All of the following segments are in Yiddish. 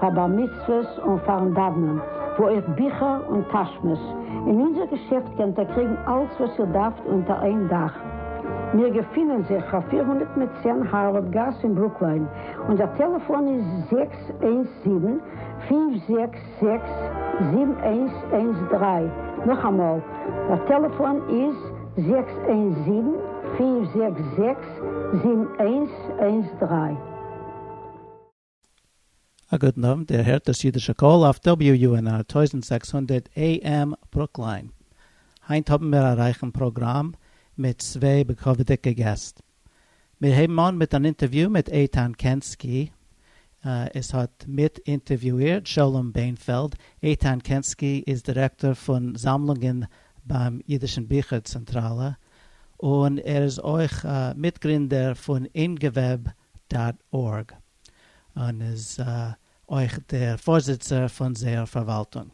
פאר בר מצוות און פארן דאוונען, וואו אויך ביכער און טאשמעס, אין אונזער געשעפט קענט איר קריגן אלץ וואס איר דארפט אונטער איין דאך. מיר געפינען זיך פאר פֿיר הונדערט מיט צען הארווארד גאס אין ברוקליין, אונזער טעלעפאן איז זעקס איינס זיבן, פֿינף זעקס זעקס, זיבן איינס איינס דרײַ, נאכאמאל, דער טעלעפאן איז זעקס איינס זיבן, פֿינף זעקס זעקס, זיבן איינס איינס דרײַ. א גוטן אוונט, איר הערט דאס אידישע קול אויף WUNR טויזנט זעקס הונדערט AM ברוקליין. היינט האבן מיר א רייכן פראגראם מיט צוויי בכבוד'יגע געסט. מיר הייבן אן מיט אן אינטערוויו מיט איתן קענסקי. עס האט מיט אינטערוויאירט שלום בענפעלד. איתן קענסקי איז דירעקטאר פון זאמלונגען ביים אידישן ביכער צענטראלע, און ער איז אויך מיטגרינדער פון אינגוועב דאט ארג, און איז אויך דער פארזיצער פון זייער פארוואלטונג.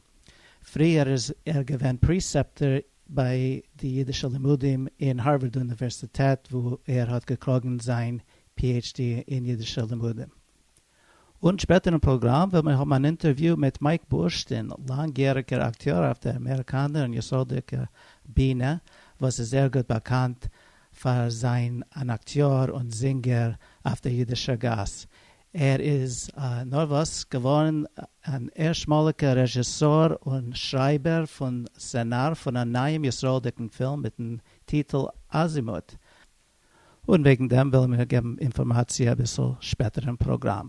פריער איז ער געווען פריסעפטער ביי די אידישע לימודים אין הארווארד אוניווערסיטעט וואו ער האט געקראגן זיין PhD אין אידישע לימודים. און שפעטער אין פראגראם וועלן מיר האבן אן אינטערוויו מיט מייק בורשטין, לאנגיעריגער אקטיאר אויף דער אמעריקאנער און ישראלדיקער בינע, וואס איז זייער גוט באקאנט פאר זיין אן אקטיאר און זינגער אויף דער אידישער גאס. ער איז נארוואס געווארן אן ערשטמאליגער רעזשיסאר און שרייבער פון סצענאר פון א נייעם ישראלדיקן פילם מיטן טיטל אזימוט, און וועגן דעם וועלן מיר געבן אינפארמאציע אביסל שפעטער אין פראגראם.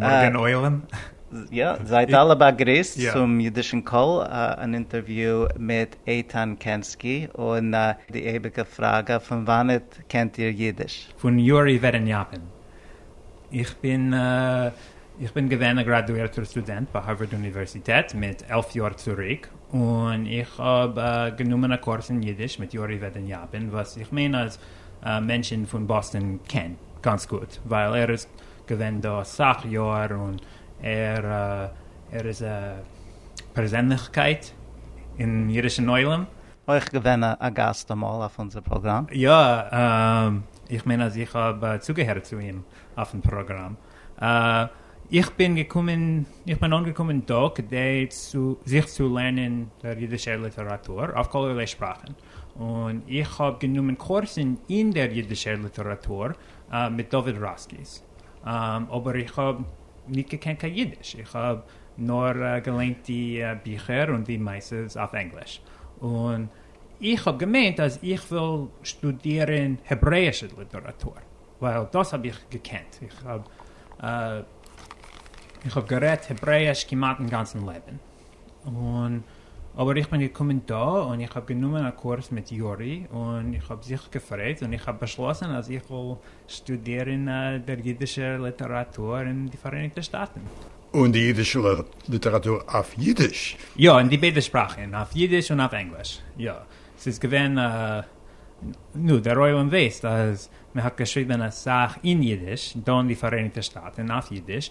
מארגן עולם. יא, זייט אלע באגריסט צום אידישן קול, אן אינטערוויו מיט איתן קענסקי, און די אייביגע פראגע, פון וואנעט קענט איר אידיש? פון יורי ווער אין יאפען. איך בין איך בין געווען א גראדואירטער סטודענט ביי הארווארד אוניווערסיטעט מיט עלף יאר צוריק, און איך האב גענומען א קורס אין אידיש מיט יורי וועד אין יאפען, וואס איך מיין אז מענטשן פון באסטאן קען גאנץ גוט, ווייל ער איז געווען דא אסאך יאהר און ער איז א פערזענליכקייט אין אידישן עולם. אויך געווען א גאסט אמאל אויף אונזער פראגראם. יא, איך מיין אז איך האב צוגעהערט צו אים אויפן פראגראם. איך בין געקומען, איך בין אנגעקומען דא כדי צו זיך צו לערנען דער אידישער ליטעראטור אויף כל ערליי שפראכן, און איך האב גענומען קורסן אין דער אידישער ליטעראטור מיט דוד ראסקיס, אבער איך האב ניט געקענט קיין יידיש, איך האב נאר געליינט די ביכער און די מעשה'ס אויף ענגליש, און איך האב געמיינט אז איך וויל שטודירען העברעאישע ליטעראטור, ווייל דאס האב איך געקענט, איך האב גערעדט העברעאיש כמעט אין גאנצען לעבען. און אבער איך בין געקומען דא און איך האב גענומען א קורס מיט יורי און איך האב זיך געפרייט און איך האב באשלאסן אז איך וועל שטודירן דער אידישער ליטעראטור אין די פאראייניגטע שטאטן. און די אידישע ליטעראטור אויף אידיש? יא, אין די ביידע שפראכן, אויף אידיש און אויף ענגליש, יא. ס'איז געווען א, נו, דער עולם ווייסט אז מען האט געשריבן אסאך אין אידיש דא אין די פאראייניגטע שטאטן אויף אידיש,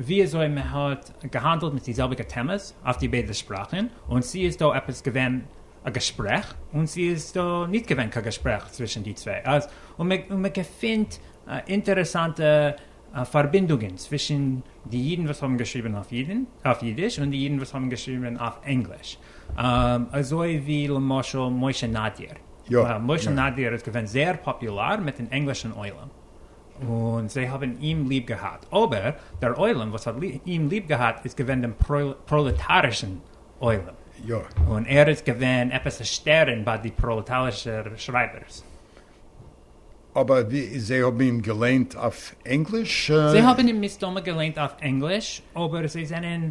ווי אזוי מען האט געהאנדלט מיט די זעלביגע טעמעס אויף די ביידע שפראכן, און צו איז דא עפעס געווען א געשפרעך און צו איז דא ניט געווען קיין געשפרעך צווישן די צוויי, און מען געפינט אינטערעסאנטע פארבינדונגען צווישן די אידן וואס האבן געשריבן אויף אידיש און די אידן וואס האבן געשריבן אויף ענגליש, אזוי ווי למשל משה נאדיר. משה נאדיר איז געווען זייער פאפולאר מיט'ן ענגלישן עולם, און זיי האבן אים ליב געהאט, אבער דער עולם וואס האט אים ליב געהאט איז געווען דעם פראלעטארישן עולם, און ער איז געווען עפעס א שטערן ביי די פראלעטארישע שרייבערס. אבער זיי האבן אים געליינט אויף ענגליש? זיי האבן אים מסתמא געליינט אויף ענגליש, אבער זיי זענען.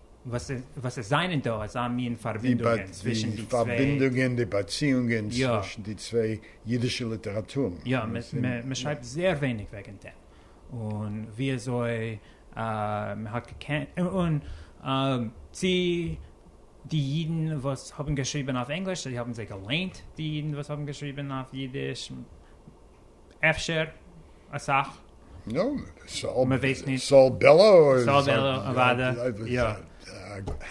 וואס עס זיינען דא אזא מין פארבינדונגען צווישן די צוויי. די פארבינדונגען, די באציאונגען צווישן די צוויי אידישע ליטעראטורן. יא, מען שרייבט זייער ווייניג וועגן דעם, און ווי אזוי מען האט געקענט, און צי די אידן וואס האבן געשריבען אויף ענגליש, צי האבן זיי געליינט די אידן וואס האבן געשריבען אויף אידיש. אפשר אסאך. נו, סאו בעלא איז. סאו בעלא אוודאי, יא.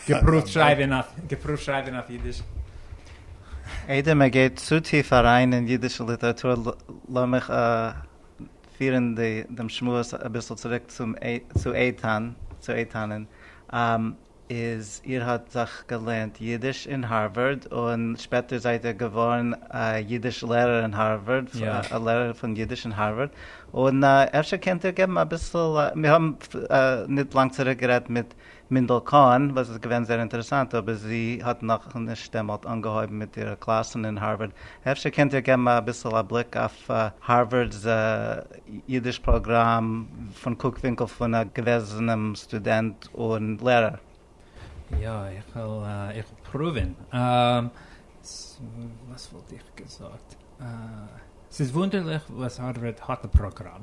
געפרואווט שרייבען אויף אידיש. איידער מען גייט צו טיף אריין אין אידישע ליטעראטור לאמיך פירן דעם שמועס אביסל צוריק צו איתן, צו איתנ'ן. איז איר האט זיך געלערנט אידיש אין הארווארד און שפעטער זייט איר געווארן א אידיש לערער אין הארווארד, א לערער פון אידיש אין הארווארד, און אפשר קענט איר געבן אביסל, מיר האבן ניט לאנג צוריק גערעדט מיט מינדל קאהן וואס איז געווען זייער אינטערעסאנט אבער זי האט נאכנישט דעמאלט אנגעהויבן מיט אירע קלאסן אין הארווארד, אפשר קענט איר געבן אביסל א בליק אויף פאר הארווארד'ס אידיש פראגראם פון קוק ווינקל פון א געוועזענעם סטודענט און לערער. יא, איך וועל איך וועל פרואווען. וואס וואלט איך געזאגט? ס'איז וואונדערליך וואס הארווארד האט א פראגראם.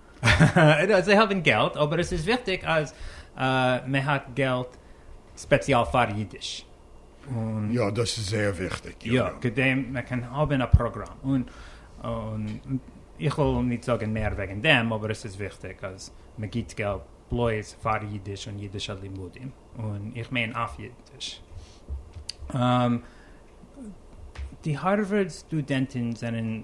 זיי האבן געלט אבער עס איז וויכטיג אז מען האט געלט ספעציעל פאר אידיש. יא דאס איז זייער וויכטיג. יא כדי מען קען האבן א פראגראם און איך וויל נישט זאגן מער וועגן דעם אבער עס איז וויכטיג אז מען גיבט געלט בלויז פאר אידיש און אידישע לימודים און איך מיין אויף אידיש. די הארווארד סטודענטן זענען.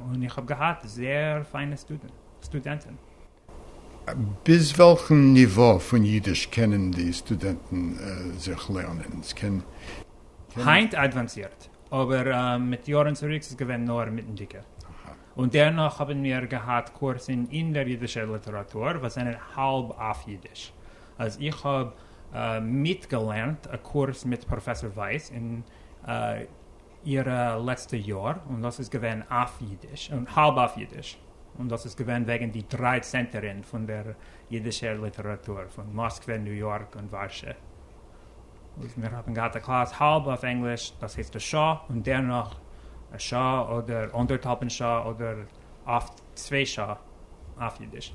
און איך האב געהאט זייער פיינע סטודענטן. ביז וועלכן ניווא פון אידיש קענען די סטודענטן זיך לערנען? היינט אדוואנסירט, אבער מיט יארן צוריק איז געווען נאר מיטנדיגע. און דערנאך האבן מיר געהאט קורסן אין דער אידישער ליטעראטור וואס זענען האלב אויף אידיש. אז איך האב מיטגעלערנט א קורס מיט פראפעסאר ווייס אין אירע לעצטע יאר, און דאס איז געווען אויף אידיש, און האלב אויף אידיש, און דאס איז געווען וועגן די דריי צענטערין פון דער אידישער ליטעראטור, פון מאסקווע, ניו יארק און ווארשע, וואס מיר האבן געהאט א קלאס האלב אויף ענגליש, דאס הייסט א שעה, און דערנאך א שעה אדער אנדערטהאלבן שעה אדער אפט צוויי שעה אויף אידיש.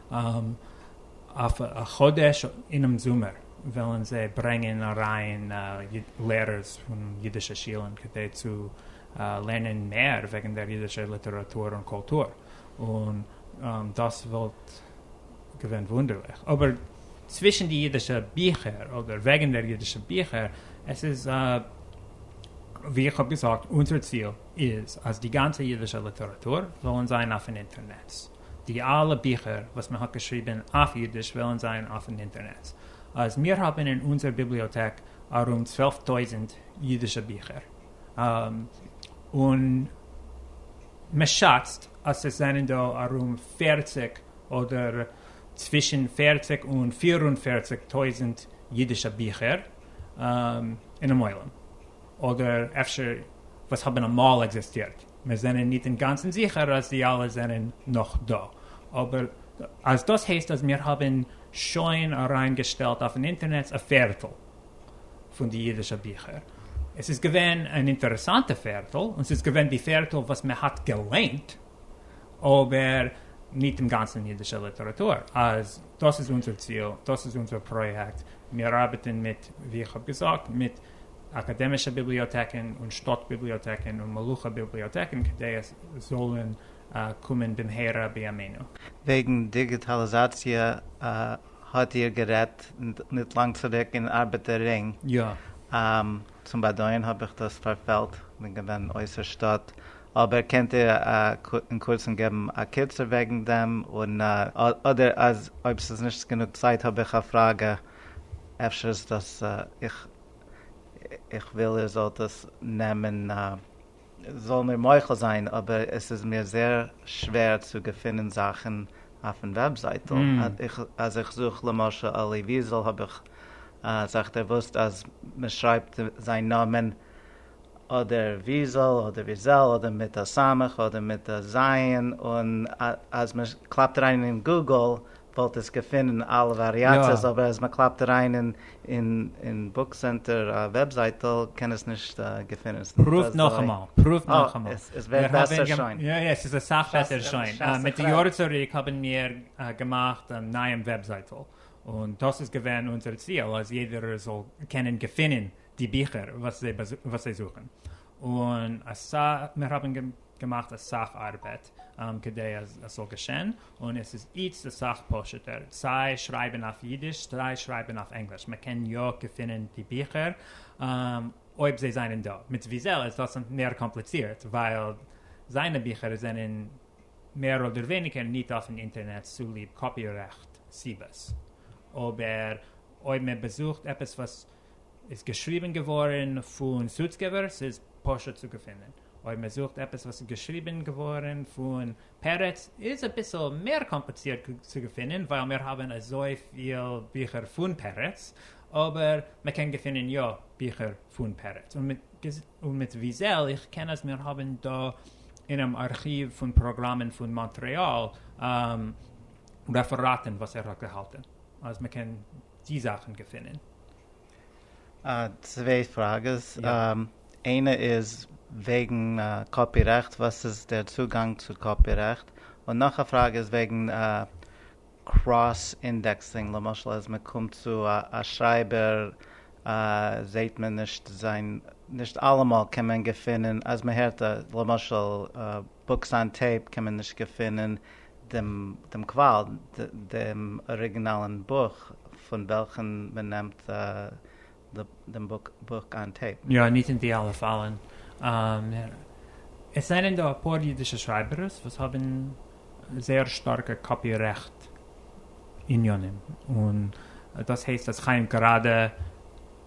אויף א חודש אינעם זומער וועלן זיי ברענגען אריין לערערס פון אידישע שולן כדי צו לערנען מער וועגן דער אידישער ליטעראטור און קולטור, און דאס וואלט געווען וואונדערליך, אבער צווישן די אידישע ביכער אדער וועגן דער אידישע ביכער, עס איז ווי איך האב געזאגט, אונזער ציל איז אז די גאנצע אידישע ליטעראטור זאלן זיין אויפן אינטערנעץ. די אלע ביכער וואס מען האט געשריבען אויף אידיש וועלען זיין אויפן אינטערנעץ, אז מיר האבען אין אונזער ביבליאטעק ארום צוועלף טויזענט אידישע ביכער, און מען שאצט אז עס זענען דא ארום פערציג אדער צווישען פערציג און פיר און פערציג טויזענט אידישע ביכער אינעם עולם. אדער אפשר וואס האבן אמאל עקזיסטירט, מיר זענען ניט אינגאנצן זיכער אז זיי אלע זענען נאך דא, אבער אז דאס הייסט אז מיר האבן שוין אריינגעשטעלט אויפן אינטערנעץ א פערטל פון די אידישע ביכער, עס איז געווען אן אינטערעסאנטע פערטל, און ס'איז געווען די פערטל וואס מען האט געליינט, אבער ניט אינגאנצן אידישע ליטעראטור, אז דאס איז אונזער ציל, דאס איז אונזער פראיעקט, מיר ארבעטן מיט, ווי איך האב געזאגט, מיט. אקאדעמישע ביבליאטעקן און שטאט ביבליאטעקן און מלוכה ביבליאטעקן כדי עס זאלן קומען במהרה בימינו. וועגן דיגיטאליזאציע האט איר גערעדט ניט לאנג צוריק אין ארבעטער רינג. יא. צום באדויערן האב איך דאס פארפעלט, כ'בין געווען אויסער שטאט. אבער קענט איר אין קורצן געבן א קיצור וועגן דעם? און אדער אז אויב ס'איז נישט גענוג צייט האב איך א פראגע. אפשר איז דאס איך איך וויל איר זאלט עס נעמען זאל מיר מוחל זיין אבער עס איז מיר זייער שווער צו געפינען זאכן אויפן וועבזייטל אז איך זוך למשל אלי וויזעל האב איך זיך דערוואוסט אז מען שרייבט זיין נאמען אדער וויזעל אדער וויזעל אדער מיט א סמך אדער מיט א ז' און אז מען קלאפט אריין אין גוגל וואלט עס געפונען אלע וואריאציעס, אבער אז מען קלאפט אריין אין בוק סענטער א וועב זייטל קען עס נישט געפונען. פרואווט נאכאמאל, פרואווט נאכאמאל. עס ווערט בעסער שוין. יא יא, עס איז אסאך בעסער שוין. מיט די יארן צוריק האבן מיר געמאכט א נייעם וועב זייטל, און דאס איז געווען אונזער ציהל אז יעדער זאל קענען געפונען די ביכער וואס זיי וואס זיי זוכן, און אסאך מיר האבן געמאכט אסאך ארבעט כדי אז עס זאל געשען, און עס איז איצט אסאך פשוט'ער, סיי שרייבן אויף אידיש סיי שרייבן אויף ענגליש, מען קען יא געפינען די ביכער אויב זיי זענען דא, מיט וויזעל איז דאס מער קאמפליצירט ווייל זיינע ביכער זענען מער אדער ווייניגער ניט אויפן אינטערנעט צוליב קאפי רעכט סיבות, אבער אויב מען באזוכט עפעס וואס איז געשריבן געווארן פון סוצקעווער, ס'איז פשוט צו געפינען. אויב מען זוכט עפעס וואס איז געשריבן געווארן פון פרץ איז אביסל מער קאמפליצירט צו געפינען ווייל מיר האבן אזויפיל ביכער פון פרץ, אבער מען קען געפינען יא ביכער פון פרץ. און מיט וויזעל, איך קען אז מיר האבן דא אינעם ארכיוו פון פראגראמען פון מאנטרעאל רעפעראטן וואס ער האט געהאלטן אז מען קען. די זאכן געפונען. צוויי פראגעס, איינע איז וועגן קאפי רעכט, וואס איז דער צוגאנג צו קאפי רעכט, און נאך א פראגע איז וועגן קראס אינדעקסינג, למשל אז מען קומט צו א שרייבער זעהט מען נישט זיין, נישט אלעמאל קען מען געפונען אז מען הערט למשל. בוקס אן טעיפ קען מען נישט געפינען דעם קוואל, דעם אריגינאלן בוך פון וועלכן מען נעמט דעם בוק אן טעיפ. יא, ניט אין די אלע פאלן. עס זענען דא א פאר אידישע שרייבערס וואס האבן זייער שטארקע קאפי רעכט עניינים, און דאס הייסט אז חיים גראדע,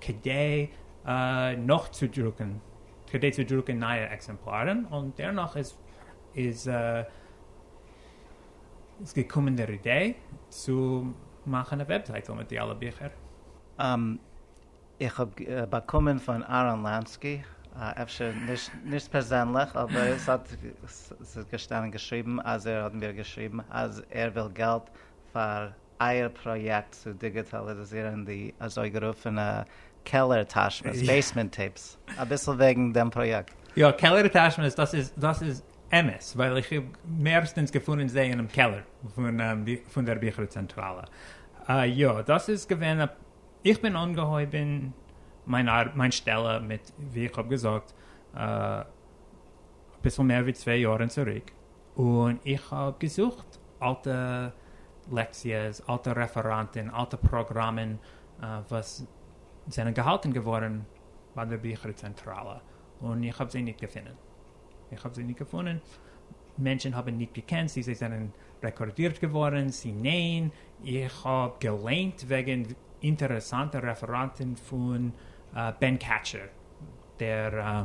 כדי נאכצודרוקן כדי צו דרוקן נייע עקזעמפלארן, און דערנאך איז איז איז געקומען דער אידעי צו מאכן א וועבזייטל מיט די אלע ביכער. איך האב באקומען פון אהרן לאנסקי, אפשר נישט פערזענליך, אבער עס האט עס איז געשטאנען געשריבן אז ער האט מיר געשריבן אז ער וויל געלט פאר אייער פראיעקט צו דיגיטאליזירן די אזויגערופענע קעלער טאשמעס, בעיסמענט טעיפס, אביסל וועגן דעם פראיעקט. יא, קעלער טאשמעס, דאס איז דאס איז אמת, ווייל איך האב מערסטענס געפונען זיי אינעם קעלער פון דער ביכער צענטראלע. יא, דאס איז געווען א, איך בין אנגעהויבען מיין ארבעט, מיין שטעלע מיט, ווי איך האב געזאגט, אביסל מער ווי צוויי יארען צוריק. און איך האב געזוכט אלטע לעקציעס, אלטע רעפעראנטען, אלטע פראגראמען וואס זענען געהאלטען געווארען ביי דער ביכער צענטראלע, און איך האב זיי ניט געפונען. איך האב זיי ניט געפונען. מענטשען האבען ניט געקענט צי זיי זענען רעקארדירט געווארען צי ניין. איך האב געליינט וועגען אינטערעסאנטע רעפעראנטען פון בען קאטשער, דער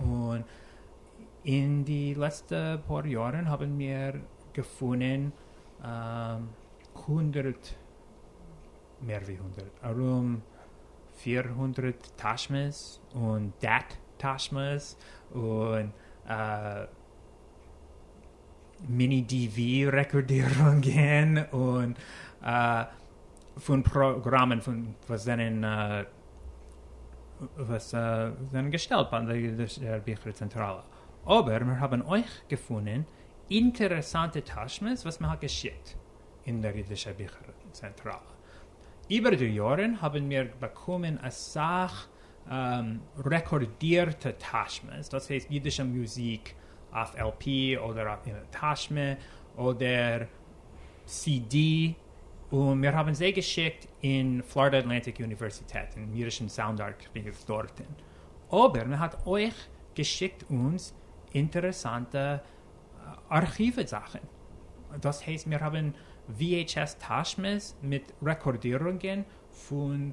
און אין די לעצטע פאר יארן האבן מיר געפונען הונדערט, מער ווי הונדערט, ארום פיר הונדרעט טאשמעס און דעט טאשמעס און מיני די ווי רעקארדירונגען און פון פראגראמען וואס זענען וואס זענען געשטעלט ביי דער ביכער צענטראלע, אבער מיר האבן אויך געפונען אינטערעסאנטע תשמות וואס מען האט געשיקט אין דער אידישער ביכער צענטראלע. איבער די יארן האבן מיר באקומען אסאך רעקארדירטע תשמות, דאס הייסט אידישע מוזיק אויף על פי אדער אין א תשמה אדער סי די, און מיר האבן זיי געשיקט אין פלארידע אטלענטיק אוניווערסיטעט אין אידישן סאונד ארכיוו דארטן, אבער מען האט אויך געשיקט אונז אינטערעסאנטע ארכיוו זאכן, דאס הייסט מיר האבן VHS טאשמעס מיט רעקארדירונגען פון.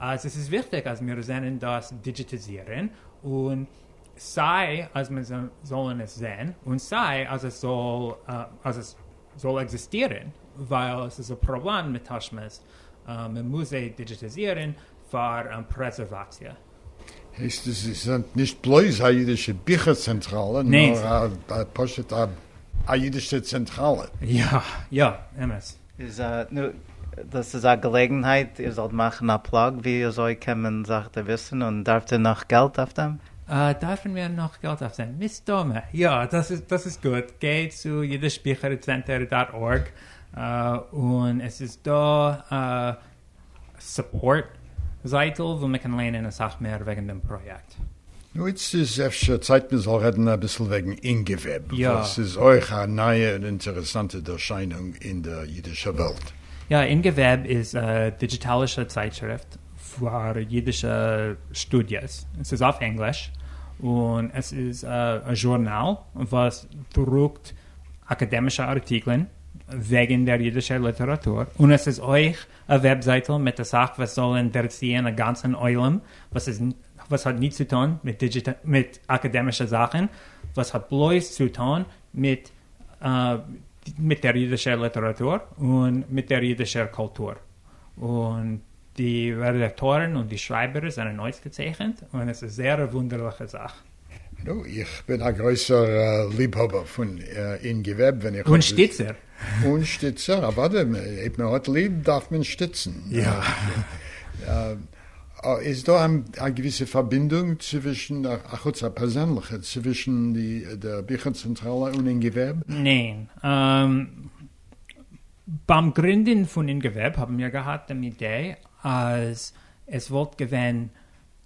אז עס איז וויכטיג אז מיר זענען דאס דידזשיטעזירען און סיי אז מען זאלען עס זעהן און סיי אז עס זאל אז עס זאל עקזיסטירען ווייל עס איז א פראבלעם מיט טאשמעס מען מוז זיי דידזשיטעזירען פאר פרעזערוואציע. הייסט עס איז נישט בלויז א אידישע ביכער צענטראלע נאר פשוט א אידישע צענטראלע? יא יא אמת. איז א נו דאס איז א געלעגנהייט איר זאלט מאכן א פלאג ווי אזוי קען מען זיך דערוויסן און דארפט איר נאך געלט אויף דעם? דארפן מיר נאך געלט אויף דעם? מסתמא יא. דאס איז דאס איז גוט גיי צו אידיש ביכער צענטער דאט ארג און עס איז דא א. סופארט זייטל וואו מען קען לערנען אסאך מער וועגן דעם פראיעקט. נו איצט איז אפשר צייט מען זאל רעדן אביסל וועגן אינגעוועב, וואס איז אויך א נייע און אינטערעסאנטע ערשיינונג אין דער אידישער וועלט. יא, אינגעוועב איז א דיגיטאלישע צייטשריפט פאר אידישע שטודיעס, עס איז אויף ענגליש, און עס איז א זשורנאל וואס דרוקט אקאדעמישע ארטיקלען וועגן דער אידישער ליטעראטור, און עס איז אויך א וועבזייטל מיט אסאך וואס זאל אינטערעסירן א גאנצן עולם וואס איז וואס האט ניט צו טאן מיט דידזשיט מיט אקאדעמישע זאכן, וואס האט בלויז צו טאן מיט מיט דער אידישער ליטעראטור און מיט דער אידישער קולטור, און די רעדאקטארן און די שרייבערס זענען אויסגעצייכנט, און עס איז זייער א וואונדערליכע זאך. נו, איך בין א גרויסער ליבהאבער פון אין געוועב ווען איך האב. און שטיצער. און שטיצער, אוודאי, אויב מען האט ליב דארף מען שטיצן. יא. איז דא א געוויסע פארבינדונג צווישן, אחוץ א פערזענליכע, צווישן די דער ביכער צענטראלע און אין געוועב? ניין. ביים גרינדן פון אין געוועב האבן מיר געהאט דעם אידעי אז עס וואלט געווען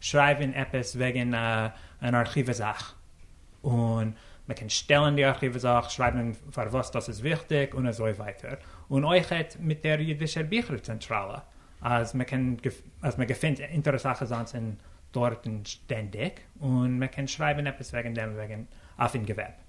שרייבן עפעס וועגן אן ארכיווע זאך, און מען קען שטעלן די ארכיווע זאך, שרייבן פארוואס דאס איז וויכטיג און אזוי ווייטער, און אויכעט מיט דער אידישער ביכער צענטראלע, אז מען קען אז מען געפינט אינטערעסאכע זאנצן דארטן שטענדיג, און מען קען שרייבן עפעס וועגן דעם וועגן אויפן געוועב.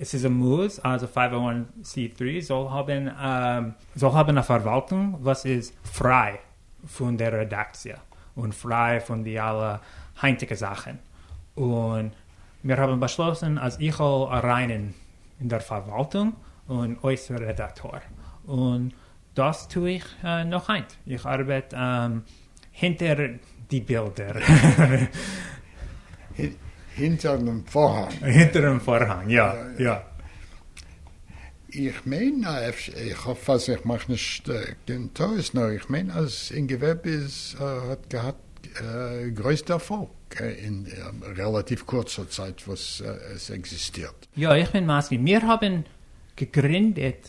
עס איז א מוז אז א פייוו וואן סי טרי זאל האבן זאל האבן א פארוואלטונג וואס איז פריי פון דער רעדאקציע און פריי פון די אלע היינטיגע זאכן, און מיר האבן באשלאסן אז איך זאל אריין אין דער פארוואלטונג און אויס רעדאקטאר, און דאס טו איך נאך היינט, איך ארבעט הינטער די בילדער. הינטער דעם פארהאנג. הינטער דעם פארהאנג, יא, יא. איך מיין, איך האף אז איך מאך נישט קיין טעות, נאר איך מיין אז אין געוועב איז האט געהאט גרויס דערפאלג אין רעלאטיוו קורצער צייט וואס עס עקזיסטירט. יא, איך בין מסכים. מיר האבן געגרינדעט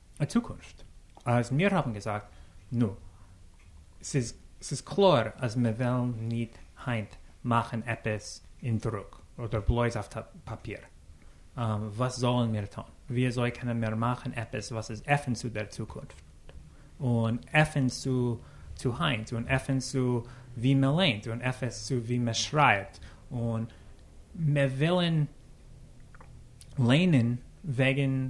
אין צוקונפט אז מיר האבן געזאגט נו ס'איז ס'איז קלאר אז מיר וועלן ניט היינט מאכן עפעס אין דרוק אדער בלויז אויף פאפיר וואס זאלן מיר טאן? וויאזוי קענען מיר מאכן עפעס וואס איז עפן צו דער צוקונפט און עפן צו צו היינט און עפן צו ווי מען ליינט און עפעס צו ווי מען שרייבט און מיר ווילן ליינען וועגן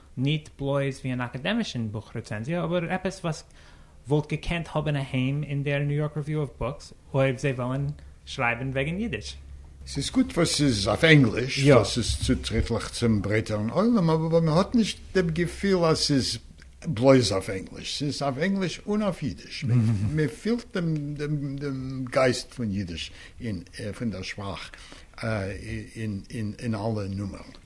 ניט בלויז ווי אן אקאדעמישן בוך רעצענזיע, אבער עפעס וואס וואלט געקענט האבן א היים אין דער ניו יארק ריוויו אוו בוקס, אויב זיי וועלן שרייבן וועגן יידיש. ס'איז גוט וואס ס'איז אויף ענגליש, יא. דאס איז צוטריטליך צום ברייטערן עולם, אבער מען האט נישט דעם געפיל אז ס'איז בלויז אויף ענגליש. ס'איז אויף ענגליש און אויף יידיש. מען פילט דעם גייסט פון יידיש, פון דער שפראך, אין אלע נומערן.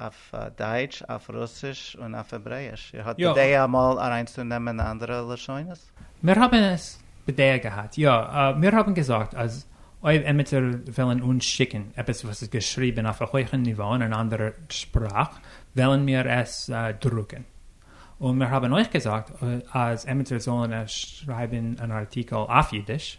אויף דייטש, אויף רוסיש און אויף העברעיש. איר האט בדעה אמאל אריינצונעמען אנדערע לשונות? מיר האבן עס בדעה געהאט, יא. מיר האבן געזאגט אז אויב עמיצער וויל אין אונז שיקן עפעס וואס איז געשריבן אויף א הויכן ניווא אין אן אנדערע שפראך, וועלן מיר עס דרוקן. און מיר האבן אויך געזאגט אז עמיצער זאלן עס שרייבן אן ארטיקל אויף אידיש.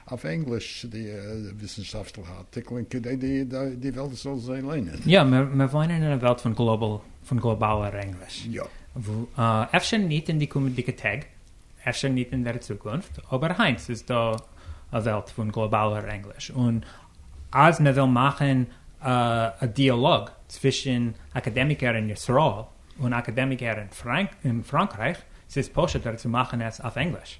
אויף ענגליש צו די וויסנשאפטליכע ארטיקלען כדי די וועלט זאל זיי ליינען. יא, מיר וואוינען אין א וועלט פון גלאבאלער ענגליש. אפשר ניט אין די קומענדיגע טעג, אפשר ניט אין דער צוקונפט, אבער היינט איז דא א וועלט פון גלאבאלער ענגליש, און אז מען וויל מאכן א דיאלאג צווישן אקאדעמיקער אין ישראל און אקאדעמיקער אין פראנקרייך, ס'איז פשוט'ער צו מאכן עס אויף ענגליש.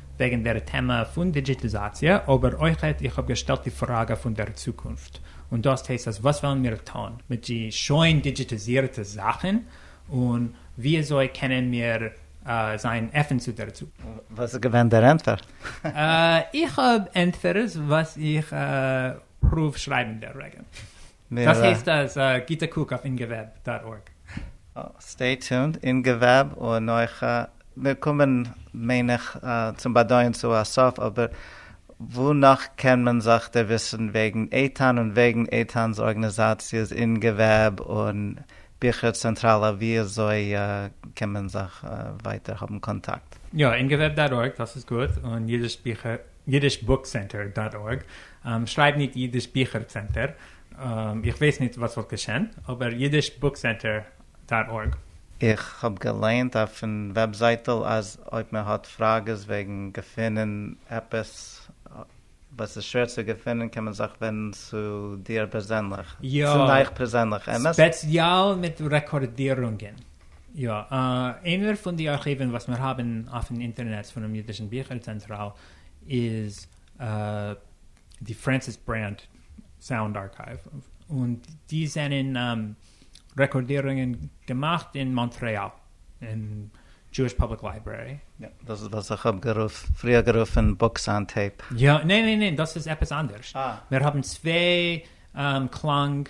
וועגן דער טעמע פון דידזשיטיזאציע, אבער אויכעט איך האב געשטעלט די פראגע פון דער צוקונפט, און דאס הייסט אז וואס וועלן מיר טון מיט די שוין דידזשיטיזירטע זאכן, און וויאזוי קענען מיר זיין אפן צו דער צוקונפט. וואס איז געווען דער ענטפער? איך האב ענטפערס וואס איך פרואוו שרייבן דער רגע. דאס הייסט אז א גוטע קוק אויף אינגעוועב דאט ארג. סטעי טונד, אינגעוועב און נוח א, מיר קומען מיין איך צום באדויען צו א סוף, אבער וואו נאך קען מען זיך דערוויסן וועגן איתן און וועגן איתן'ס ארגענעזאציעס אינגעוועב און ביכער צענטראלע ווי אזוי קען מען זיך ווייטער האבן קאנטאקט? יא, אינגעוועב דאט ארג, דאס איז גוט, און אידיש ביכער ייִדיש בוק סענטער דאָט אָרג, שרײַב ניט ייִדיש ביכער צענטער, איך ווייס ניט וואָס וואָלט געשען, אָבער ייִדיש בוק סענטער דאָט אָרג. איך האב געליינט אויפן וועבזייטל אז אויב מען האט פראגעס וועגן געפינען עפעס וואס איז שווער צו געפינען קען מען זיך ווענדן צו דיר פערזענליך. יא. צו נייך פערזענליך, אמת? ספעציעל מיט רעקארדירונגען. יא, איינער פון די ארכיוון וואס מיר האבן אויפן אינטערנעץ פונעם אידישן ביכער צענטראל איז די פרענסיס ברענד סאונד ארכייוו, און די זענען רעקארדירונגען געמאכט אין מאנטרעאל אין דזשואיש פובליק לייברערי. דאס איז וואס איך האב פריער גערופן בוקס אן טעיפ. יא, ניין ניין ניין דאס איז עפעס אנדערש, מיר האבן צוויי קלאנג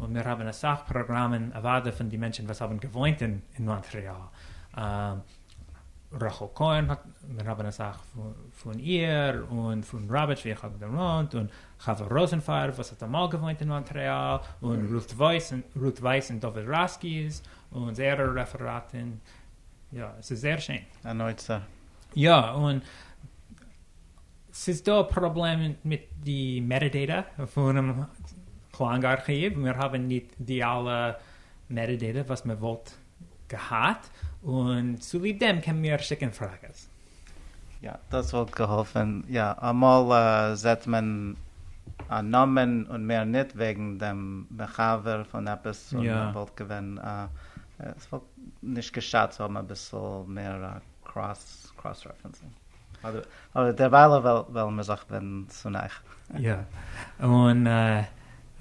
און מיר האבן אסאך פראגראמען אוואדע פון די מענטשן וואס האבן געוואוינט אין מאנטריאל, רחל כהן האט, מיר האבן אסאך פון איר, און פון ראביטש ווי איך האב געוואוינט, און חוה ראזענפארב וואס האט אמאל געוואוינט אין מאנטריאל, און רות ווייס און דוד ראסקיס און זייערע רעפעראטן, יא, עס איז זייער שיין. אן אוצר. יא, און ס'איז דא א פראבלעם מיט די מעטאדעיטא פונעם קלאנג ארכיוו, מיר האבן ניט די אלע מעטאדעיטא וואס מען וואלט געהאט, און צוליב דעם קען מיר שיקן פראגעס. יא, דאס וואלט געהאלפן. יא, אמאל זעט מען א נאמען און מער ניט וועגן דעם מחבר פון עפעס, און וואלט געווען א, ס'וואלט נישט געשאדט צו האבן אביסל מער קראס רעפרענסינג. אבער דערווייל וועלן מיר זיך ווענדן צו נייך. יא, און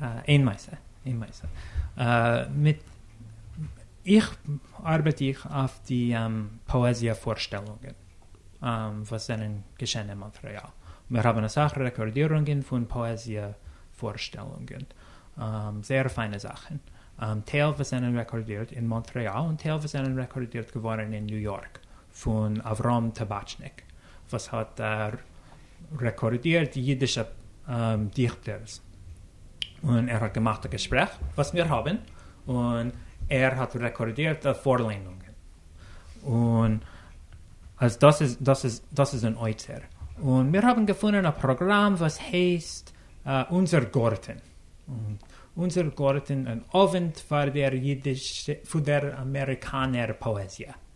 איין מעשה, איין מעשה, מיט, איך ארבעט איך אויף די פאעזיע פארשטעלונגען וואס זענען געשען אין מאנטרעאל, מיר האבן אסאך רעקארדירונגען פון פאעזיע פארשטעלונגען, זייער פיינע זאכן, טייל וואס זענען רעקארדירט אין מאנטרעאל און טייל וואס זענען רעקארדירט געווארן אין ניו יארק, פון אברהם טאבאטשניק וואס האט רעקארדירט אידישע דיכטערס און ער האט געמאכט א געשפרעך וואס מיר האבן און ער האט רעקארדירט פארליינונגען און אז דאס איז דאס איז דאס איז אן אוצר און מיר האבן געפונען א פראגראם וואס הייסט אונזער גארטן אונזער גארטן אן אווענט פאר דער אידיש פאר דער אמעריקאנער פאעזיע.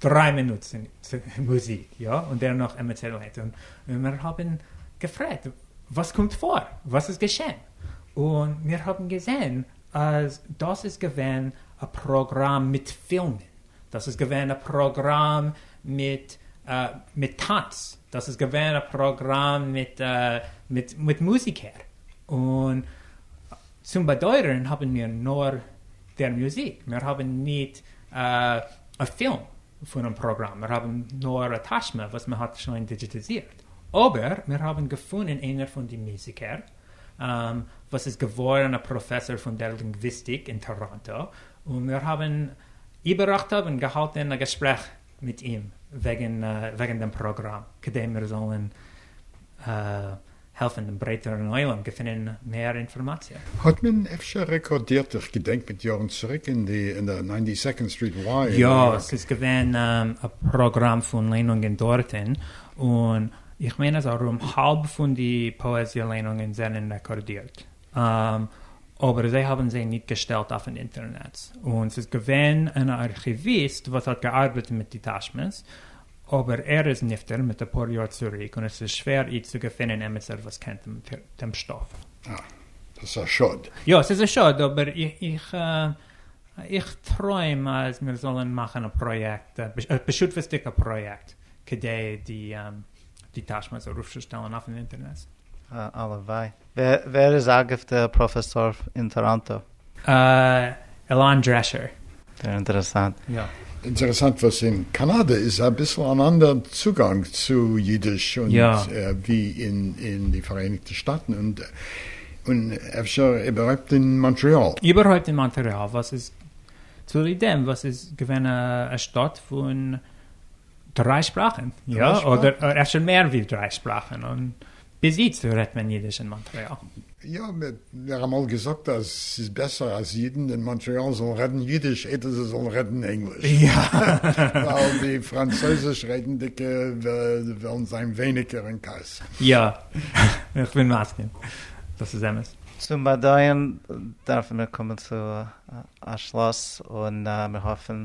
דריי מינוט מוזיק יא און דערנאך עמעצערלייט און מיר האבן געפרעגט וואס קומט פאר וואס איז געשען און מיר האבן געזען אז דאס איז געווען א פראגראם מיט פילמען דאס איז געווען א פראגראם מיט מיט טענץ דאס איז געווען א פראגראם מיט מיט מיט מוזיקער און צום באדויערן האבן מיר נאר דער מוזיק, מיר האבן ניט א פילם פונעם פראגראם, מיר האבן נאר א טאשמע וואס מען האט שוין דידזשיטיזירט, אבער מיר האבן געפונען איינער פון די מוזיקער וואס איז געווארן א פראפעסאר פון דער לינגוויסטיק אין טאראנטא, און מיר האבן איבעראכטב און געהאלטן א געשפרעך מיט אים וועגן וועגן דעם פראגראם כדי מיר זאלן העלפן דעם ברייטערן עולם געפינען מער אינפארמאציע. האט מען אפשר רעקארדירט? איך געדענק מיט יארן צוריק אין די אין די ניינטי סעקאנד סטריט י אין ניו יארק. יא, ס'איז געווען א פראגראם פון ליינונגען דארטן, און איך מיין אז ארום האלב פון די פאעזיע ליינונגען זענען רעקארדירט. אבער זיי האבן זיי ניט געשטעלט אויפן אינטערנעץ, און ס'איז געווען אן ארכיוויסט וואס האט געארבעט מיט די תשמ'ס, אבער ער איז נפטר מיט אפאר יאר צוריק און עס איז שווער איצט צו געפינען עמיצער וואס קען דעם שטאף. אה. דאס איז א שאד. יא, ס'איז א שאד, אבער איך איך טרוים אז מיר זאלן מאכן א פראיעקט, א בשותפות'דיגע פראיעקט, כדי די תשמ'ס ארויפצושטעלן אויפן אינטערנעץ. הלוואי. ווער איז אגב דער פראפעסאר אין טאראנטא? עלאן דרעשער. זייער אינטערעסאנט. יא. אינטערעסאנט וואס אין קאנאדע איז אביסל אן אנדער צוגאנג צו אידיש ווי אין די פאראייניגטע שטאטן און אפשר איבערהויפט אין מאנטריאל. איבערהויפט אין מאנטריאל וואס איז צוליב דעם וואס איז געווען א שטאט פון. דריי שפראכן, יא, אדער אפשר מער ווי דריי שפראכן, און ביז איצט רעדט מען אידיש אין מאנטרעאל. יא, מען האט מיר אמאל געזאגט אז ס'איז בעסער אז אידן אין מאנטרעאל זאלן רעדן אידיש איידער זיי זאלן רעדן ענגליש, ווייל די פראנצויזיש רעדנדיגע וועלן זיין ווייניגער אין כעס. יא, איך בין מסכים, דאס איז אמת. צום באדויען דארפן מיר קומען צו א שלאס, און מיר האפן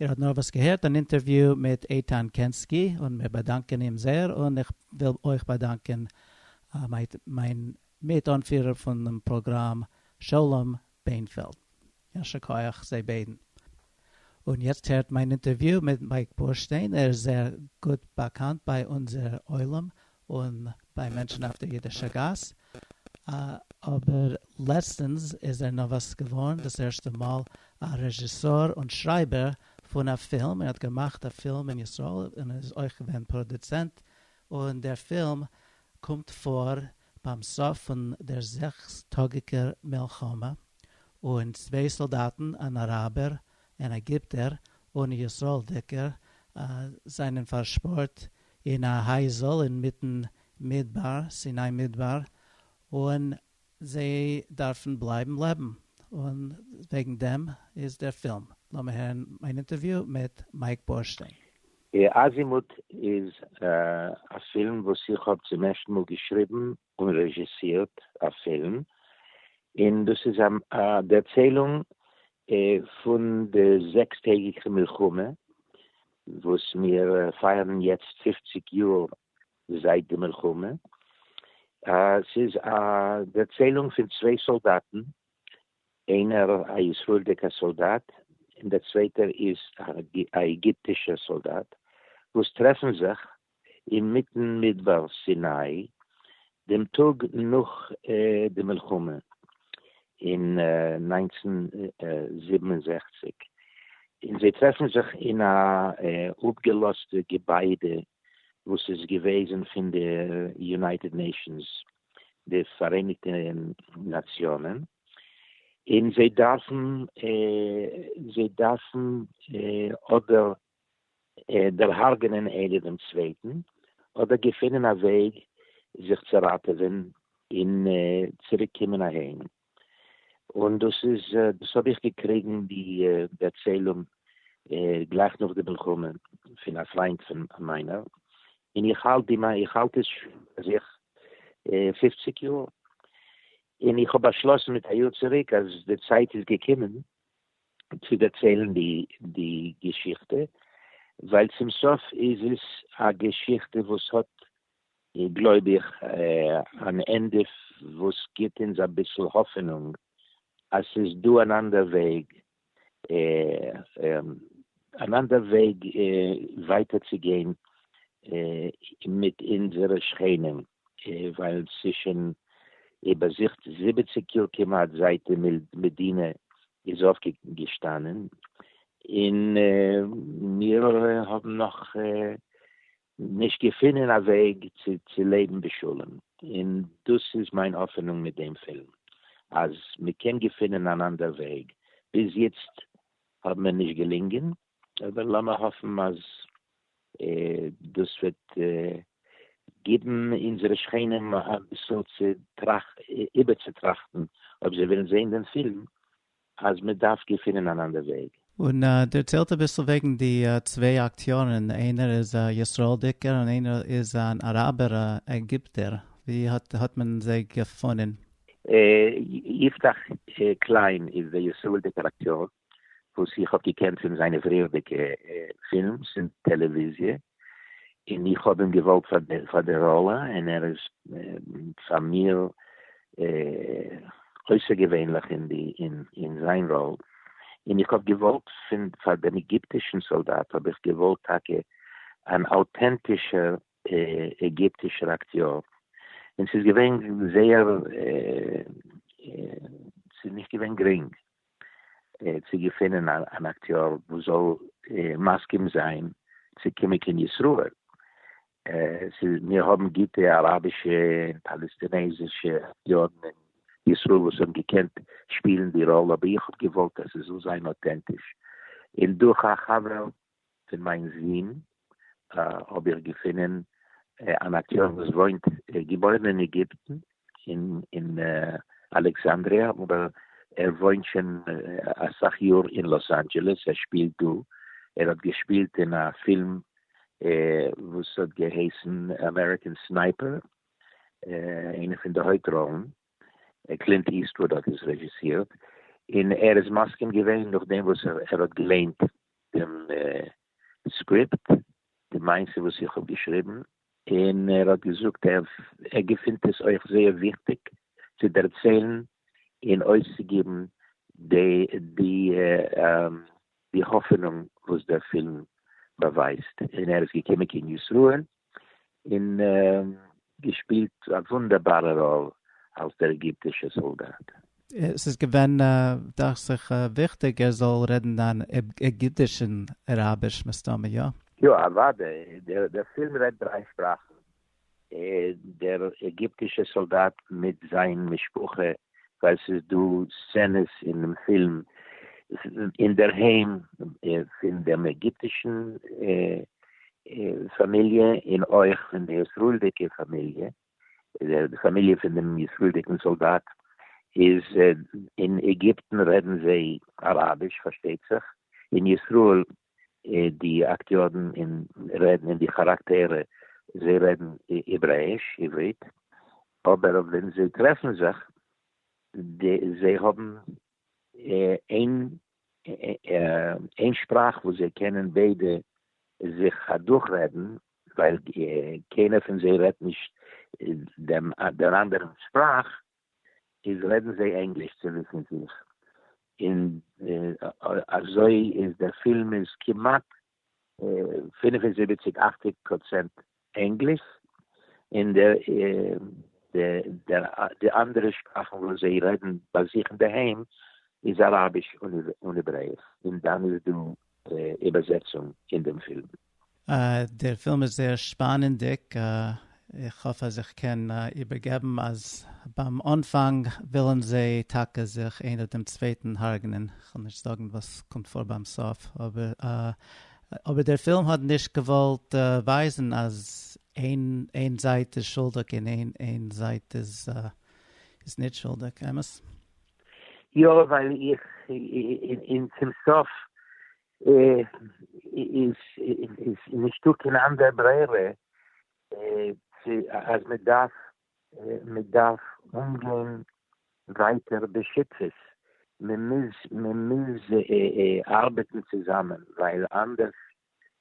איר האט נארוואס געהערט אן אינטערוויו מיט איתן קענסקי און מיר באדאנקען אים זייער און איך וויל אויך באדאנקען מיין מיט אנפירער פונעם פראגראם שלום בענפעלד. יישר כח זיי ביידן. און יעצט הערט מיין אינטערוויו מיט מייק בורשטיין, ער איז זייער גוט באקאנט ביי אונזער עולם און ביי מענטשן אויף דער אידישער גאס, אבער לעצטנס איז ער נארוואס געווארן דאס ערשטע מאל א רעזשיסאר און שרייבער פון א פילם, ער האט געמאכט א פילם אין ישראל און איז אויך געווען פראדוצענט, און דער פילם קומט פאר ביים סוף פון דער זעקס טאגיקער מלחמה, און צוויי סאלדאטן, אן אראבער און עגיפטער און ישׂראלדיקער זײַנען פֿאַרשפּאָרט אין אַ הײַזל אין מיטן מידבר, סיני-מידבר, און זײ דאַרפֿן בלײַבן לעבן. און װעגן דעם איז דער פֿילם. לאָמיר הערן מײַן אינטערװיו מיט מײַק בורשטיין. אזימוט איז א פילם וואס איך האב צום ערשטן מאל געשריבן און רעזשיסירט א פילם, און דאס איז א דערציילונג פון די זעקס טעגיגע מלחמה וואס מיר פייערן יעצט פופציג יאר זייט די מלחמה, ס'איז א דערציילונג פון צוויי סאלדאטן, איינער א ישראלדיגע סאלדאט און דער צווייטער איז א עגיפטישע סאלדאט וואס טרעפן זיך אינמיטן מדבר סיני, דעם טאג נאך די מלחמה אין נײַנצן זיבן און זעכציק, און זיי טרעפן זיך אין א אפגעלאזטע געביידע וואס איז געוועזן פון די יונייטעד נעישאנס, די פאראייניגטע נאציאנען, און זיי דארפן זיי דארפן אדער דערהרגענען איינער דעם צווייטן, אדער געפינען א וועג זיך צו ראטעווען און צוריק קומען אהיים, און דאס איז דאס האב איך געקריגן די ערצעלונג גלייך נאך די מלחמה פון א פריינט פון מיינער, און איך האלט די איך האלט עס שוין ביי זיך פופציג יאר, און איך האב באשלאסן מיט א יאר צוריק אז די צייט איז געקומען צו דערציילן די געשיכטע, ווייל צום סוף איז עס א געשיכטע וואס האט גלויב איך אן ענדע וואס גיבט אונז אביסל האפענונג אז ס'איז דא אן אנדער וועג אן אנדער וועג ווייטער צו גיין מיט אונזערע שכנים, ווייל ס'איז שוין איבערזוכט זיבעציק יאר כמעט זייט די מדינה איז אויפגעשטאנען, און מיר האבן נאך נישט געפינען א וועג צו לעבן בשלום, און דאס איז מיין האפענונג מיט דעם פילם, אז מען קען געפינען אן אנדער וועג, ביז יעצט האט מיר נישט געלינגען, אבער לאמיר האפן אז דאס וועט גיבן אונזערע שכנים אביסל איבערצוטראכטן, אויב זיי וועלן זען דעם פילם אז מען דארף געפינען אן אנדער וועג. און דערציילט אביסל וועגן די צוויי אקטיארן, איינער איז א ישראל'דיגער און איינער איז אן אראבער עגיפטער, ווי האט מען זיי געפונען? יפתח קליין איז דער ישראל'דיגער אקטיאר וואס איך האב געקענט פון זיינע פריערדיגע פילמס און טעלעוויזיע, און איך האב אים געוואלט פאר די ראלע, און ער איז פאר מיר אויסערגעווענליך אין זיין ראל, און איך האב געוואלט פאר דעם עגיפטישן סאלדאט האב איך געוואלט טאקע אן אוטענטישער עגיפטישער אקטיאר, און ס'איז געווען זייער ס'איז נישט געווען גרינג. צו געפינען אן אקטיאר וואס זאל מסכים זיין צו קומען קיין ישראל, מיר האבן גוטע אראבישע און פאלעסטינעזישע אקטיארן אין ישראל וואס האבן געקענט שפילן די ראלע, אבער איך האב געוואלט אז ס'זאל זיין אוטענטיש, און דורך א חבר פון מיין זון האב איך געפונען אן אקטער וואס וואוינט, געבוירן אין עגיפטן אין אלעקסאנדריא, אבער ער וואוינט שוין אסאך יאר אין לאס אנדזשעלעס, ער שפילט דא, ער האט געשפילט אין א פילם וואס האט געהייסן אמעריקען סנייפער, איינע פון די הויפט ראלן. קלינט איסטוואד האט עס רעזשיסירט, און ער איז מסכים געווען נאכדעם וואס ער האט געליינט דעם סקריפט, די מעשה וואס איך האב געשריבן, און ער האט געזאגט ער געפינט עס אויך זייער וויכטיג צו דערציילן און אויסצוגיבן די האפענונג וואס דער פילם באווייזט, און ער איז געקומען קיין ישראל, און געשפילט א וואונדערבארע ראל אלס דער עגיפטישער סאלדאט. עס איז געווען דאכט זיך וויכטיג ער זאל רעדן אן עגיפטיש און אראביש מסתמא, יא? יא, אוודאי, דער פילם רעדט דריי שפראכן, דער עגיפטישער סאלדאט מיט זיין משפחה ווייל ס'איז דא סצענעס אינעם פילם אינדערהיים פון דעם עגיפטישן פאמיליע און אויך פון די ישראל'דיגע פאמיליע, די פאמיליע פון דעם ישראל'דיגן סאלדאט איז אין עגיפטן רעדן זיי אראביש פארשטייט זיך, אין ישראל די אקטיארן און רעדן און די כאראקטערע זיי רעדן העברעיש, עברית, אבער ווען זיי טרעפן זיך זיי האבן איין איין שפראך וואס זיי קענען ביידע זיך אדורך רעדן, ווייל קיינער פון זיי רעדט נישט דעם אנדערן שפראך. איז רעדן זיי ענגליש צוליב מיט זיך, און אזוי איז דער פילם איז כמעט פֿינף און זיבעציק אכציג פראצענט ענגליש, און די אנדערע שפראכן וואס זיי רעדן ביי זיך אינדערהיים איז אראביש און העברעיש, און דאן איז דא די איבערזעצונג אין דעם פילם. דער פילם איז זייער שפאנענדיג, איך האף אז איך קען איבערגעבן אז ביים אנפאנג ווילן זיי טאקע זיך איינער דעם צווייטן הרג'נען, כ'וועל נישט זאגן וואס קומט פאר ביים סוף, אבער דער פילם האט נישט געוואלט ווייזן אז איין זייט איז שולדיג און איין זייט איז נישט שולדיג, אמת? יא ווייל איך אין צום סוף איז איז נישטא קיין אנדער ברירה צו אז מען דארף מען דארף אנגיין ווייטער בשותפות מען מוז מען מוז ארבעטן צוזאמען ווייל אנדערש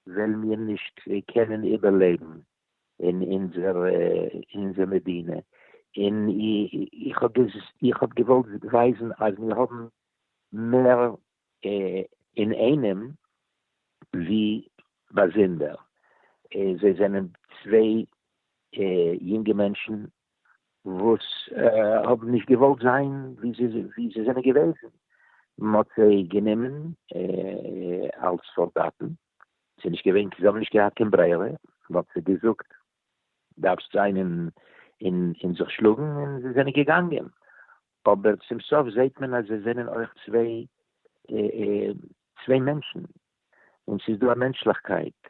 וועלן מיר נישט קענען איבערלעבן. אין אונזער אונזער מדינה, און איך האב איך האב געוואלט ווייזן אז מיר האבן מער אינאיינעם ווי באזונדער, זיי זענען צוויי יונגע מענטשן וואס האבן נישט געוואלט זיין ווי זיי זענען געוועזן, מען האט זיי גענומען אלס סאלדאטן, ס'איז נישט געווען, זיי האבן נישט געהאט קיין ברירה, מ'האט זיי געזאגט דארפסט זיין און זיך שלאגן און זיי זענען געגאנגען, אבער צום סוף זעהט מען אז זיי זענען אויך צוויי צוויי מענטשן, און ס'איז דא א מענטשליכקייט,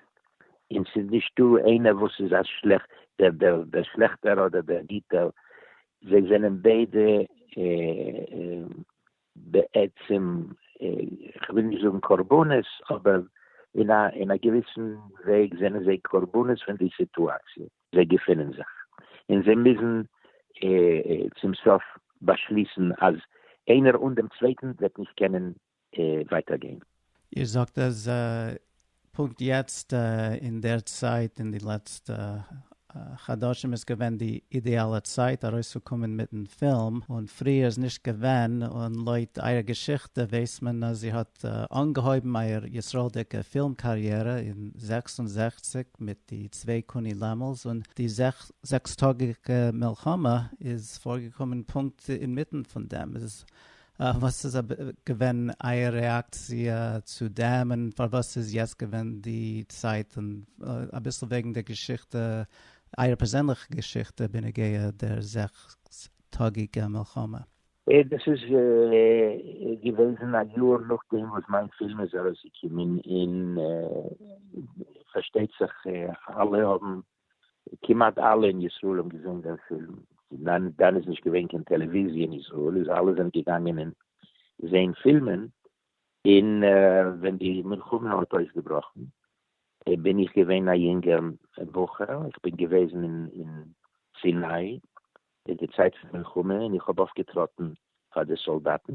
און ס'איז נישט דא איינער וואס איז א שלעכט דער דער שלעכטער אדער דער גוטער, זיי זענען ביידע בעצם כ'וויל נישט זאגן קרבנות אבער אין א געוויסן וועג זענען זיי קרבנות פון די סיטואציע זיי געפינען זיך און זיי מוזן צום סוף באשליסן אז איינער אן דעם צווייטן וועט נישט קענען ווייטער גיין. איר זאגט אז פונקט יעצט אין דער צייט אין די לעצטע חדשים איז געווען די אידעאלע צייט ארויסצוקומען מיטן פילם און פריער איז נישט געווען, און לויט אייער געשיכטע ווייסט מען אז איר האט אנגעהויבן אייער ישראל'דיגע פילם קאריערע אין זעקס און זעכציק מיט די צוויי קוני לעמל'ס און די זעקס טאגיגע מלחמה איז פארגעקומען פונקט אינמיטן פון דעם, איז וואס איז געווען אייער רעאקציע צו דעם און פארוואס איז יעצט געווען די צייט און אביסל וועגן די געשיכטע אייער פערזענליכע געשיכטע בנוגע דער זעקס טאגיגע מלחמה. דאס איז געוועזן א יאר נאכדעם וואס מיין פילם איז ארויסגעקומען און פארשטייט זיך אלע האבן כמעט אלע אין ישראל האבן געזען דעם פילם, דאן איז נישט געווען קיין טעלעוויזיע אין ישראל, איז אלע זענען געגאנגען אין זעהן פילמען, אין ווען די מלחמה האט אויסגעבראכן בין איך געווען א יונגער בחור, איך בין געוועזן אין סיני אין די צייט פון מלחמה, אין איך האב אויפגעטראטן פאר די סאלדאטן,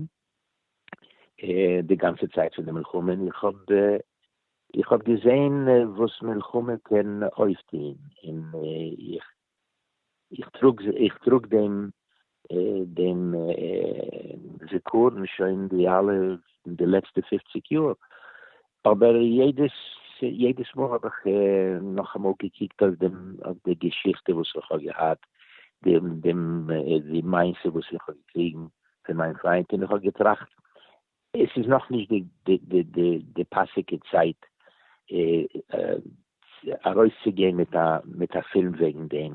די גאנצע צייט פון די מלחמה, און איך האב איך האב געזען וואס מלחמה קען אויפטוהן, און איך איך טראג איך טראג דעם דעם זכרון שוין די אלע די לעצטע פופציג יאר, אבער יעדעס יעדעס מאל האב איך נאכאמאל געקוקט אויף דעם אויף די געשיכטע וואס איך האב געהאט, דעם דעם די מעשה וואס איך האב געקריגן פון מיין פריינט, און איך האב געטראכט עס איז נאכנישט די די די די די פאסיגע צייט ארויסצוגיין מיט א מיט א פילם וועגן דעם,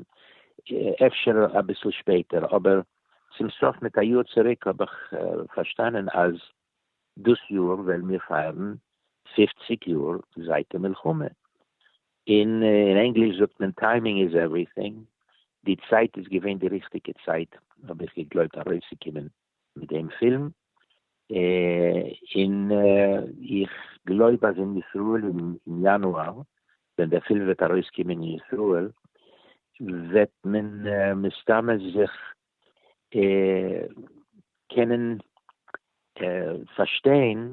אפשר אביסל שפעטער, אבער צום סוף מיט א יאר צוריק האב איך פארשטאנען אז דאס יאר וועלן מיר פייערן פופציג יאר זייט די מלחמה, און אין ענגליש זאגט מען טיימינג איז עווריטינג, די צייט איז געווען די ריכטיגע צייט האב איך געגלויבט ארויסצוקומען מיט דעם פילם, און איך גלויב אז אין ישראל אין יאנואר ווען דער פילם וועט ארויסקומען אין ישראל וועט מען מסתמא זיך קענען פארשטיין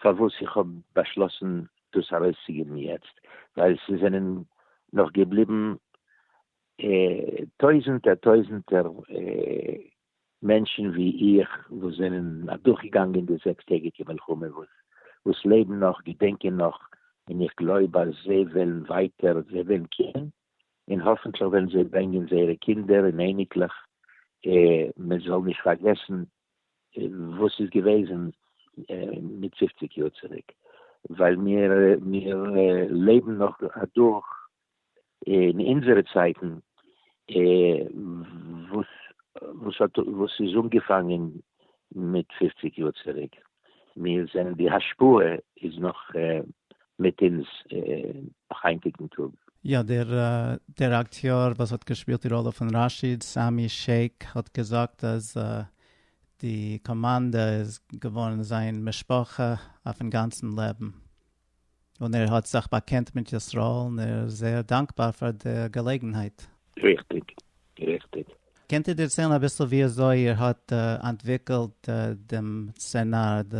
פארוואס איך האב באשלאסן דאס ארויסצוגעבן יעצט, ווייל ס'זענען נאך געבליבן טויזנטער טויזנטער מענטשן ווי איך וואס זענען אדורכגעגאנגען די זעקס טעגיגע מלחמה וואס לעבן נאך, געדענקען נאך, און איך גלויב אז זיי וועלן ווייטער, זיי וועלן קומען און האפענטליך וועלן זיי ברענגען זייערע קינדער און אייניקלעך, מען זאל נישט פארגעסן וואס איז געוועזן מיט פופציג יאר צוריק, ווייל מיר מיר לעבן נאך אדורך אין אונזערע צייטן וואס וואס האט וואס איז אנגעפאנגען מיט פֿופֿציק יאר צוריק, מיר זענען די השפעה איז נאך מיט אונז היינטיגן טאג. יא, דער אקטיאר וואס האט געשפילט די ראלע פון ראשיד, סעמי שעיק, האט געזאגט אז די קאמאנדע איז געווארן זיין משפחה אויפן גאנצן לעבן. און ער האט זיך באקענט מיט ישראל און ער איז זייער דאנקבאר פאר די געלעגנהייט. ריכטיג, ריכטיג. קענט איר דערציילן אביסל ווי אזוי איר האט אנטוויקלט דעם סצענאר, די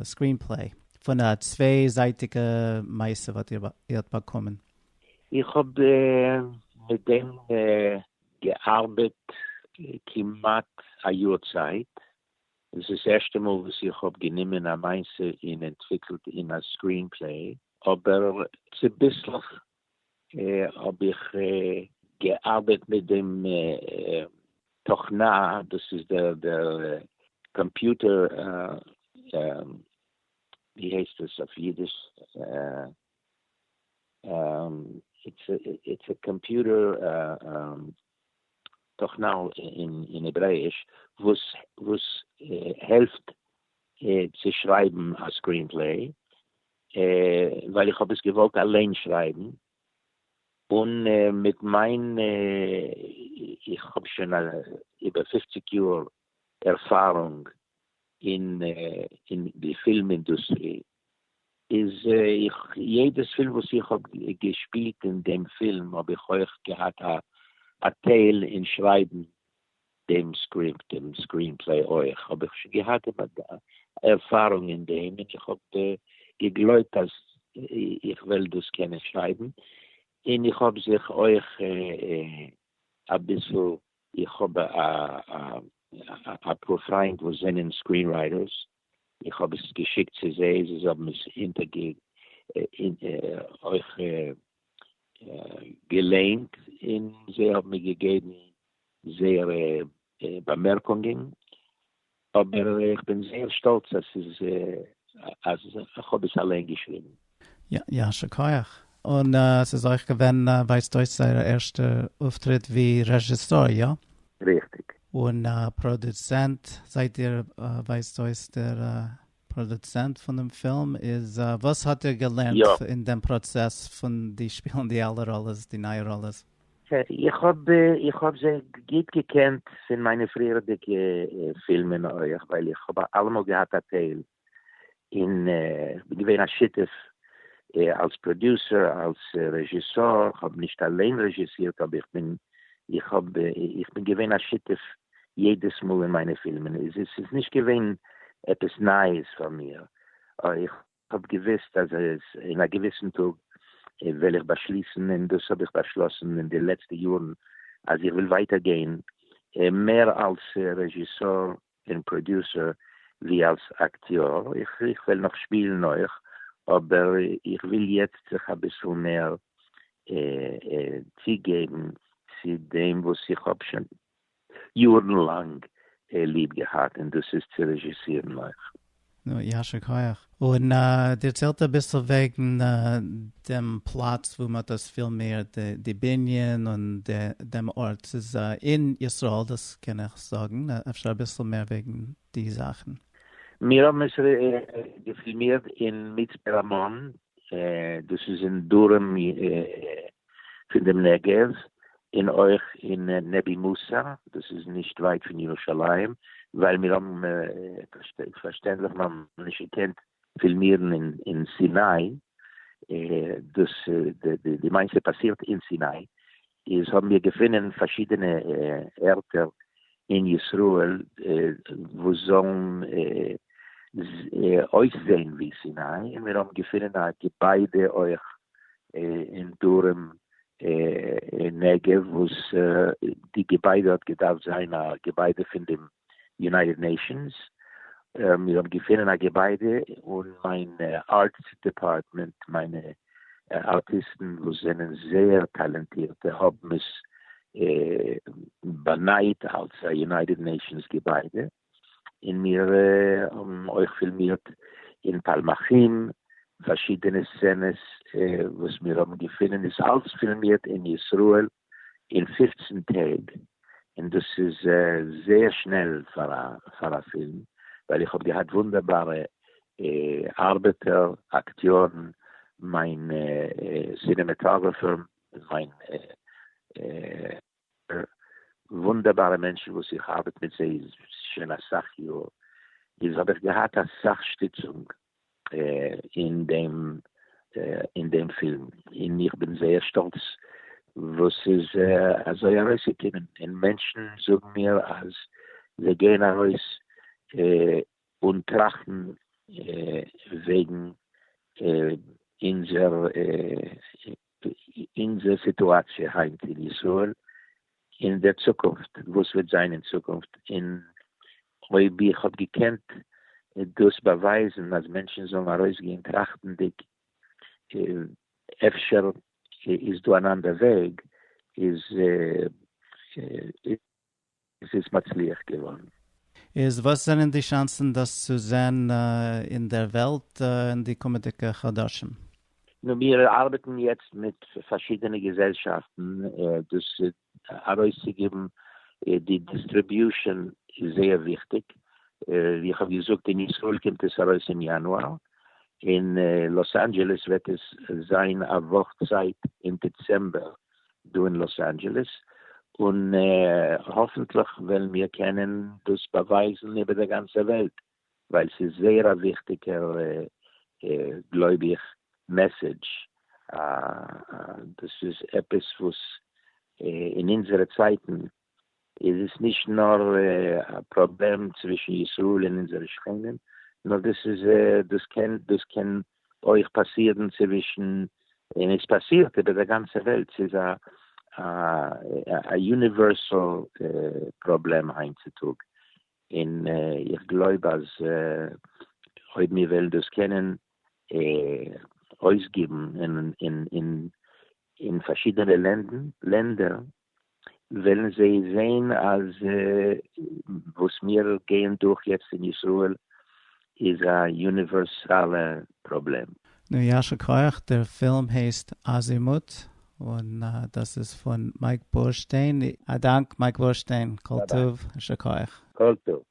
סקרין פלעי, פון א צוויי זייטיגע מעשה וואס איר האט באקומען? איך האב מיט דעם געארבעט כמעט א יאר צייט, דאס איז ערשטע מאל וואס איך האב גענומען א מעשה און אנטוויקלט אים א סקרין פלעי, אבער צוביסלעך האב איך געארבעט מיט דעם תוכנה, דאס איז דער קאמפיוטער, ווי הייסט עס אויף אידיש? איטס א קאמפיוטער תוכנה'ל אין העברעיש וואס העלפט צו שרייבן א סקרינפלעי, ווייל איך האב עס געוואלט אליין שרייבן, און מיט מיין איך האב שוין איבער פופציג יאר ערפארונג אין די פילם אינדוסטרי, איז איך יעדעס פילם וואס איך האב געשפילט אין דעם פילם האב איך אויך געהאט א טייל אין שרייבן דעם סקריפט דעם סקרין פלעי אויך האב איך שוין געהאט ערפארונג אין דעם און איך האב געגלויבט אז איך וועל דאס קענען שרייבן און איך האב זיך אויך אביסל איך האב אפאר פריינט וואס זענען סקרין רייטערס איך האב עס געשיקט צו זיי, זיי האבן עס אינטערגעגעבן, אויך געליינט, און זיי האבן מיר געגעבן זייערע באמערקונגען, אבער איך בין זייער שטאלץ אז איך האב עס אליין געשריבן. יישר כח. און ס'איז אויך געווען ווייזט אויס זייער ערשטע אויפטריט ווי רעזשיסאר, יא? ריכטיג. און פראדוצענט זייט איר? ווייזט אויס דער פראדוצענט פון דעם פילם איז, וואס האט איר געלערנט אין דעם פראצעס פון די שפילן די אלע ראלעס, די נייע ראלעס? איך האב איך האב זיי גוט געקענט פון מיינע פריערדיגע פילמען אויך, ווייל איך האב אלעמאל געהאט א טייל אין געווען א שותף אלס פראדיוסער אלס רעזשיסאר, כ'האב נישט אליין רעזשיסירט אבער איך בין איך האב איך בין געווען א שותף יעדעס מאל אין מיינע פילמען, עס איז נישט געווען עפעס נייעס פאר מיר, איך האב געוויסט אז אין א געוויסן טאג וועל איך באשליסן און דאס האב איך באשלאסן אין די לעצטע יארן אז איך וויל ווייטער גיין מער אלס רעזשיסאר און פראדיוסער ווי אלס אקטיאר, איך וועל נאך שפילן אויך, אבער איך וויל יעצט זיך אביסל מער צוגעבן צו דעם וואס איך האב שוין יארן לאנג ליב געהאט, און דאס איז צו רעזשיסירן אויך. נו, יישר כח. און דערציילט אביסל וועגן דעם פלאץ וואו מ'האט דאס פילמירט, די בנין און דעם ארט. ס'איז אין ישראל, דאס קען איך זאגן. אפשר אביסל מער וועגן די זאכן? מיר האבן עס געפילמירט אין מצפה רמון, דאס איז אין דרום פון דעם נגב, און אויך אין נבי מוסא, דאס איז נישט ווייט פון ירושלים, ווייל מיר האבן פארשטענדליך נאך נישט געקענט פילמירן אין סיני, דאס די מיינסט ס'פאסירט אין סיני? איז האבן מיר געפונען פארשידענע ערטער אין ישראל וואס זאלן אויסזעהן ווי סיני, און מיר האבן געפונען א געביידע אויך אין דרום נגב וואס די געביידע האט געדארפט זיין א געביידע פון דעם יונייטעד נעישאנס, מיר האבן געפינען א געביידע און מיין ארטס דעפארטמענט, מיינע ארטיסטן וואס זענען זייער טאלענטירטע האבן עס באנייט אלס א יונייטעד נעישאנס געביידע, און מיר האבן אויך פילמירט אין פאלמחים, פארשידענע סצענעס וואס מיר האבן געפינען איז אלס פילמירט אין ישראל, אין פֿופֿצן טעג, און דאס איז זייער שנעל פאר א פאר א פילם, ווייל איך האב געהאט וואונדערבארע ארבעטער, אקטיארן, מיין סינעמעטאגראפער, מיין וואונדערבארע מענטשן וואס איך ארבעט מיט זיי שוין אסאך יאר, איז האב איך געהאט אסאך שטיצונג אין דעם אין דעם פילם, און איך בין זייער שטאלץ וואס ס'איז אזוי ארויסגעקומען, און מענטשן זאגן מיר אז זיי גייען ארויס אן טראכטן וועגן אונזער אונזער סיטואציע היינט אין ישראל און דער צוקונפט וואס וועט זיין אין צוקונפט, און אויב איך האב געקענט דאס באווייזן אז מענטשן זאלן ארויסגיין טראכטנדיג אפשר איז דא אן אנדער וועג איז עס איז מצליח געווארן. איז וואס זענען די שאנסן דאס צו זען אין דער וועלט אין די קומעדיגע חדשים? נו מיר ארבעטן יעצט מיט פארשידענע געזעלשאפטן דאס ארויסצוגעבן, די דיסטריביושען איז זייער וויכטיג, ווי איך האב געזאגט אין ישראל קומט עס ארויס אין יאנואר, אין לאס אנדזשעלעס וועט עס זיין א וואך צייט אין דעצעמבער, דא אין לאס אנדזשעלעס, און האפענטליך וועלן מיר קענען דאס באווייזן איבער דער גאנצער וועלט, ווייל ס'איז זייער א וויכטיגער גלויב איך מעסעדזש, דאס איז עפעס וואס אין אונזערע צייטן איז עס נישט נאר א פראבלעם צווישן ישראל און אונזערע שכנים, נאר דאס איז דאס קען דאס קען אויך פאסירן צווישן, און עס פאסירט איבער דער גאנצער וועלט, ס'איז א א יוניווערסעל פראבלעם היינט צו טאג, און איך גלויב אז אויב מיר וועלן דאס קענען אויסגיבן אין אין אין פארשידענע לענדער, וועלן זיי זעהן אז וואס מיר גייען דורך יעצט אין ישראל איז א יוניווערסאלע פראבלעם. נו יישר כח, דער פילם הייסט אזימוט, און דאס איז פון מייק בורשטיין, א דאנק מייק בורשטיין, כל טוב, שכוח. כל טוב.